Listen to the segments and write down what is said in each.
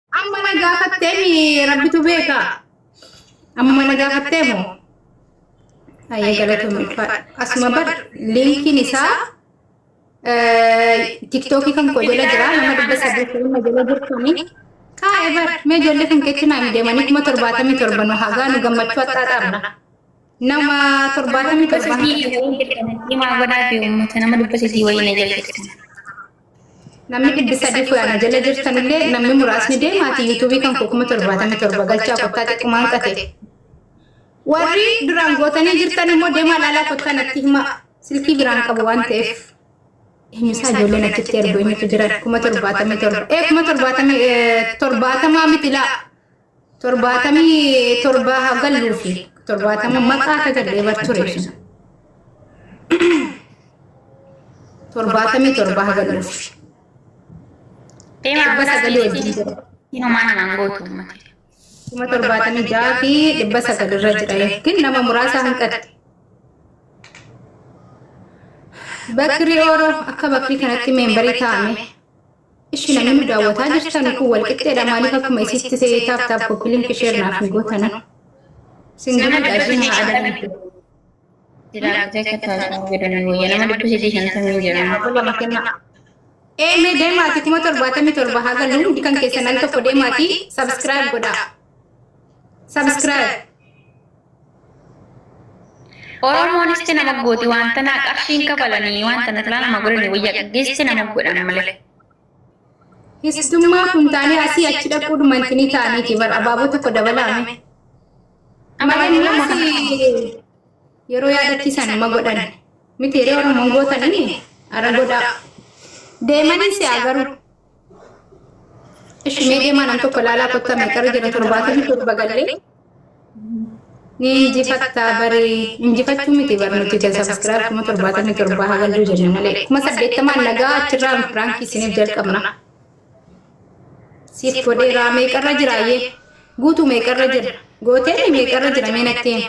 Amma na gaafattee mi rabbitu beeka. Amma na gaafattee moo? Ayyee galatoomii ulfaadha. Asuma bar liinkiin isaa tiktookii kan koo jala jira nama dhibba sadii filma jala jirtanii. Kaa'e bar mee ijoollee kan keetti naa hin deemanii kuma torbaatamii torba nu hagaa nu gammachuu hattaa dhaabna. Nama torbaatamii torba. Himaa godhaa fi uummata nama dhibba sadii wayii na jala jirtan. Namni dhibbi sadii koo ana jala jirtanillee namni muraasni deemaati yuutuubii kan koo kuma torbaatamii torba galchaa kottaa xiqqumaan qate. Warri duraan gootanii jirtan immoo deemaa laalaa kottaa natti hima silkii biraan qabu waan ta'eef. Himisaa ijoolleen achitti ergu eenyutu jiran kuma torbaatamii torba. Ee kuma torbaatamii torbaatamaa miti laa. torbaatamii torbaa haa galluu fi torbaatama maqaa akka gallee bar ture sun. torbaatamii torbaa haa galluu fi Deemaa dhibba sagalii wajjin jira. Siin homaa namaan gootu uummata. kuma torbaatamii ja'a fi dhibba sagal irra jira yookiin nama muraasa hanqatte. Bakri Oro akka bakrii kanatti meembarii taa'ame Ishi namni nu daawwataa jirtanu kun wal qixxeedha maaliif akkuma isitti se'ee taap taap koppi linki sheer naaf hin gootanu. Sin gammadda ishii naa adabamtu. Dilaagdee akka taasifamu godhanii wayya nama dhibba sadii shantamii jedhamu. Abbo lama kennaa. Eemee deemaati kuma torbaatamii torba haga luumdi kan keessan al tokko deemaati sabiskiraayib godhaa. Subscribe. Oromoon isti nama gooti waan tanaa qarshiin kabalanii waan tana silaa nama godhani wayya qaggeessi nama godhan malee. Histummaa kun taanee asii achi dhaquu dhumanti ni taaniiti bar abaaboo tokko dabalaame. Malee ammas yeroo yaadachiisan ma godhan miti yeroo Oromoon gootanii ara godhaa. Deemanii si'a garuu. Ishi mee deemaa nam tokko ilaalaa kottaa meeqarra jira torbaatamii torba gallee ni injifattaa barii injifachuu miti bar nuti kan sabiskiraayib kuma torbaatamii torbaa haa galluu jenne malee kuma saddeettamaan nagaa achirraa firaankii isiniif jalqabna. Siif godheeraa meeqarra jiraayyee guutuu meeqarra jira gooteemi meeqarra jira mee natti himi.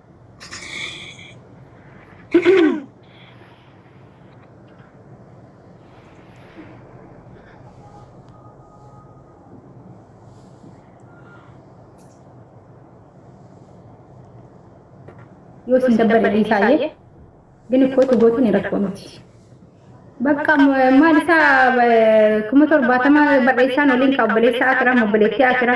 yoo isin dabbare dhiisaayyee gini kootu gootuun rakkoo miti. Bakka maal isaa kuma torbaatama barreessaan waliin ka obboleessaa akira obboleettii akira.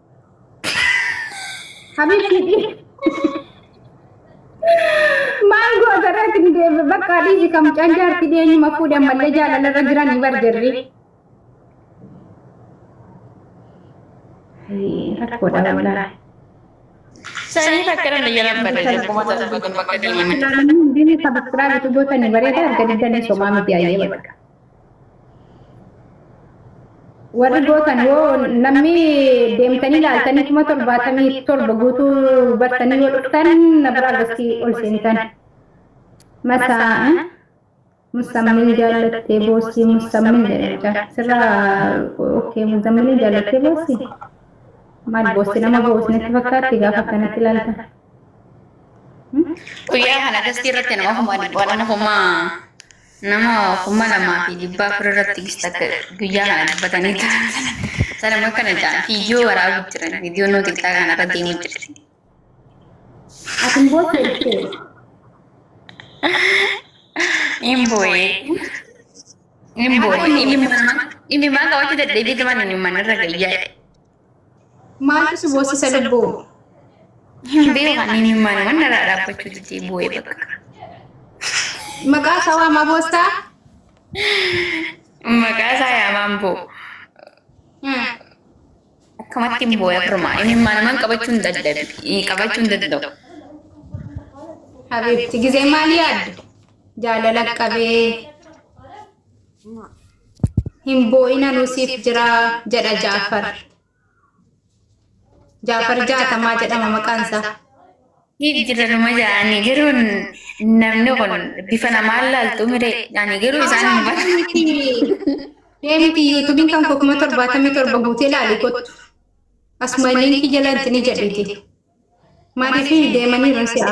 Habiibti maal goota irratti ni deebi bakka adiisi kam canjaarti dhiyeenyuma fuudhe ammallee jaalala irra jiran ni barjarri. Rakkoodha walaa. Sanii fakkiran ni jalan bada jakkuma tasu bakka bakka deeman. Bini sabskiraabitu goota ni bareeda arga diddanii somaa miti ayyee bakka. warri gootan yoo namni deemtanii laaltanii kuma torbaatamii torba guutuu battanii yoo dhuftan na biraa gosti ol seentan masaa musammin jaallattee boossii musammin jedhacha sirra okkee musammin jaallattee boossii maal boossi nama boosnetti fakkaatti gaafa akkanatti ilaalta guyyaa kana dastii irratti nama homaa dhibbaa nama homaa Nama 2400 irratti gista akka guyyaa kana dubbatanii turan sana sana immoo akkana jedhan viidiyoo waraabuu jiran viidiyoo nuti xiqqaa kana irra deemuu jirti. Asin booda jettee Hin boo'ee. Hin boo'ee. Inni mana inni mana qabaachuu dadhabee turan inni mana irra gayyaa. Maaltu si boossisa lubbuu? Hin beeku ani imimmaan waan narraa dhaabbachuu didee boo'ee bakka. Maqaa isaa waamaa boostaa? Maqaa isaa yaamaan boo. Akkamatti hin boo'e firmaa imimmaan waan qabachuu hin dadhabi qabachuu hin danda'u. Habiibti gizee maal yaaddu? Jaalala qabee. Hin boo'ina nu siif jira jedha Jaafar. Jaafar jaatamaa jedhama maqaan isaa. Siif jira numa jedhani garuu namni kun bifa namaan laaltu mire ani garuu isaan hin barre. Deemti yuutuubiin kan koo kuma torbaatamii torba guutee laali kottu. Asuma liinkii jala itti ni jedhiti. Maaliif deemanii irra si'a?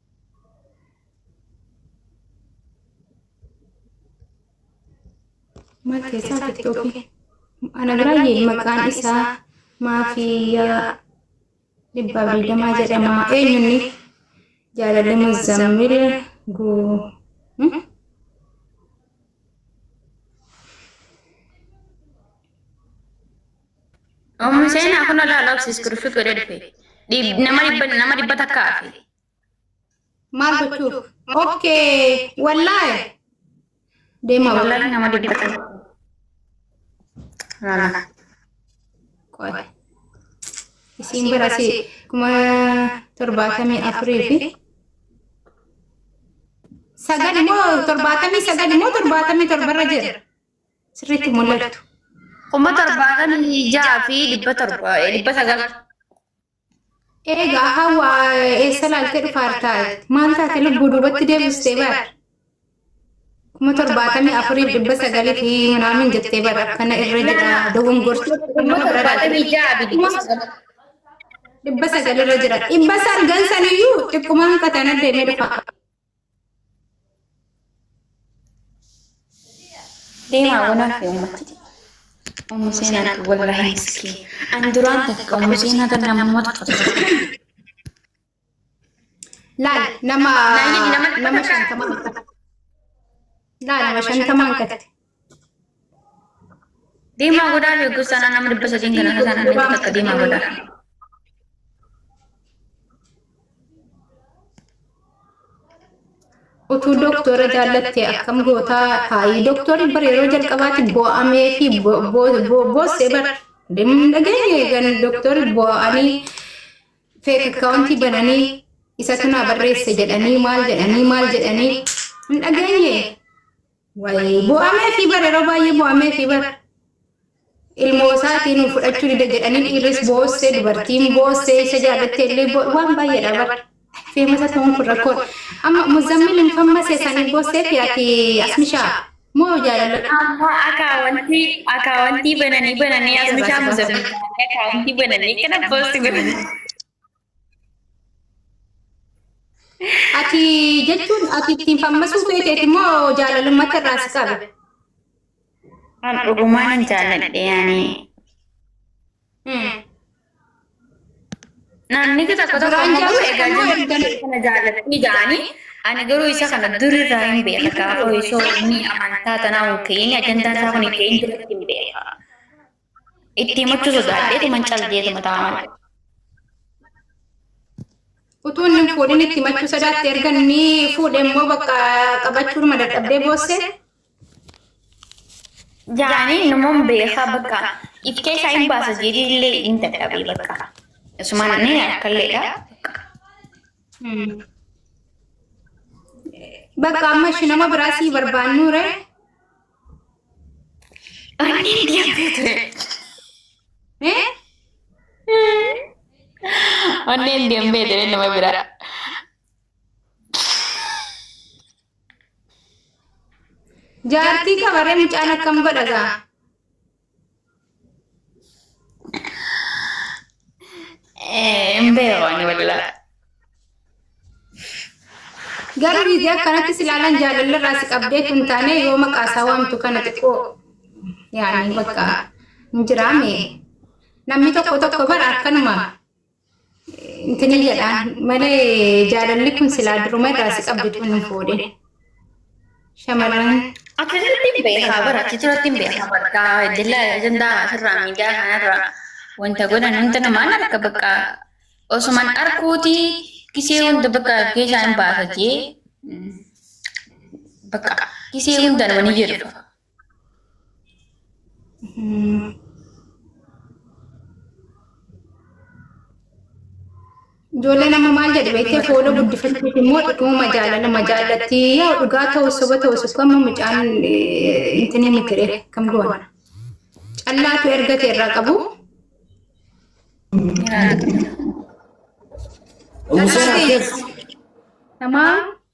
Maal keessaa tiktookii? Ana biraayye maqaan isaa maafiyaa dhibba digdamaa jedhama. Eenyunni jaalalli muzammil guu. Ommi seenaa kun alaa laaf siskirifit godhee dhufe. Nama dhibba nama dhibba takka hafe. Maal gochuuf? Okkee wallaahi. Deema Wallaahi nama dhibba takka. Lala. Qoy. Isiin barasi kuma torbaatamii afurii fi sagal immoo torbaatamii sagal immoo torbaatamii torbarra jira. sirriitti mul'atu. Kuma torbaatamii ja'a fi dhibba torba dhibba sagal. Eegaa hawa eessa laaltee dhufaartaa maal taate lubbuu duubatti deebistee bar. Kuma torbaatamii afuriif dhibba sagalii fi minaamin jettee bar akkana irra jira dogongorti. Kuma torbaatamii ja'a fi dhibba sagal. Dhibba sagal irra jira. Dhibba sagal saniyyuu xiqquma hanqatan addeenee dhufa. Deemaa wanaa fi uummatti. Ummu seenaan wallahi miskiin. An duraan takka ummu seenaa tan namoota Laal nama nama shantama hanqate. Laal nama shantama hanqate. Diimaa godhaa fi gosa sanaa nama dhibba sadiin kana kasaan annitti takka diimaa godhaa. utuu doktora jaallatte akkam gootaa taa'ii doktorri bar yeroo jalqabaatti boo'amee fi boosse bar dhageenye gan doktorri boo'anii feek akkaawuntii bananii isatu naa barreesse jedhanii maal jedhanii maal jedhanii hin dhageenye Wayii bo'amee fi bara yeroo baay'ee bo'amee fi bara ilmoo isaatii nu fudhachuu dida jedhanii dhiirris boossee dubartiin boossee isa jaalattee illee bo- waan baay'eedha bara. Feemasa ta'uun kun rakkoon. Amma muzammil hin fammase sanii boossee fi ati asmishaa moo jaalala. Amma akaawwantii akaawwantii bananii bananii asmishaa muzammil akaawwantii bananii kana boosti godhanii. Ati jechuun ati ittiin fammasuu feeteeti moo jaalalummatti irraa si qabe? An dhugumaan hin jaalladhe yaani. Hmm. Naanni tokko tokko Duraan ammoo garuu egaa jaalladhu moo jirtu erga- kana jaallatanii ja'anii ani garuu isa kana durirraa hin beeka gaafa osoo inni amantaa tanaa hin ka'in ajandaa isaa kun hin ka'in duratti hin beeka. Itti himachuu sodaadheetuman cal jeetuma ta'a malee. Utuu inni hin fuudhin itti himachuu sodaatte erga inni fuudhe immoo bakka qabachuudhuma dadhabdee boosse. Jaanii namoon beekaa bakka if keessaa hin baasa jeetii illee hin dadhabee bakka. Asumaan inni akkalleedha. Bakka amma ishii nama biraa sii barbaannuure. Onneen deemtee ture nama bira. Jaartii kabaree mucaan akkam godha gaa? Garuu viidiyoo akkanatti silaalaan jaalalli irraa si qabdee kun taane yoo maqaa isaa waamtu kana xiqqoo yaani bakka hin jiraame namni tokko tokko bara akkanuma Intini jedhaan malee jaalalli kun silaa duruma irraa si qabdi tun hin fuudhin. Shamarran Akkanatti hin beekaa bara achi turatti hin beekaa bakka jala ajandaa asirraa miidiyaa kanarraa wanta godhan wanta namaan arka bakka osuman arkuuti gisee hunda bakka keessaa hin baasa jee bakka gisee hundaan wani jedhu Ijoollee nama maal jedhu beektee fooloo guddifachuuf immoo dhuguma jaalala ma jaallatti yaa dhugaa ta'u soba ta'u sukka amma mucaan intinii mitire kam goona. Callaatu ergate irraa qabu. Umuseen akkas. Namaa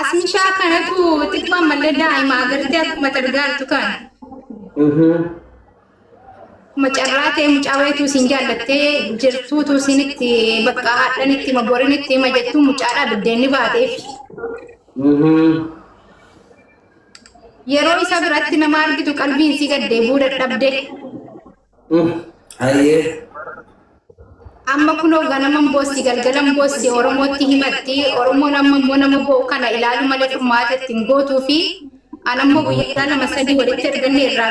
Asmishaa kanatu xiqqoo ammallee daa'ima agartee akkuma targaantu kan. Akkuma carraa ta'e mucaa wayituu siin jaallattee jirtuutu siinitti bakka haadhanitti hima borinitti hima jettuu mucaadhaa biddeenni baateef. Yeroo isa biratti nama argitu qalbiin si gaddee buuda dhabde. Hayyee. Amma kunoo ganaman boosti galgalan boosti Oromootti himatti Oromoon amma immoo nama boo'u kana ilaalu malee furmaata ittiin gootuu fi anammoo guyyaa lama sadii walitti erganne irraa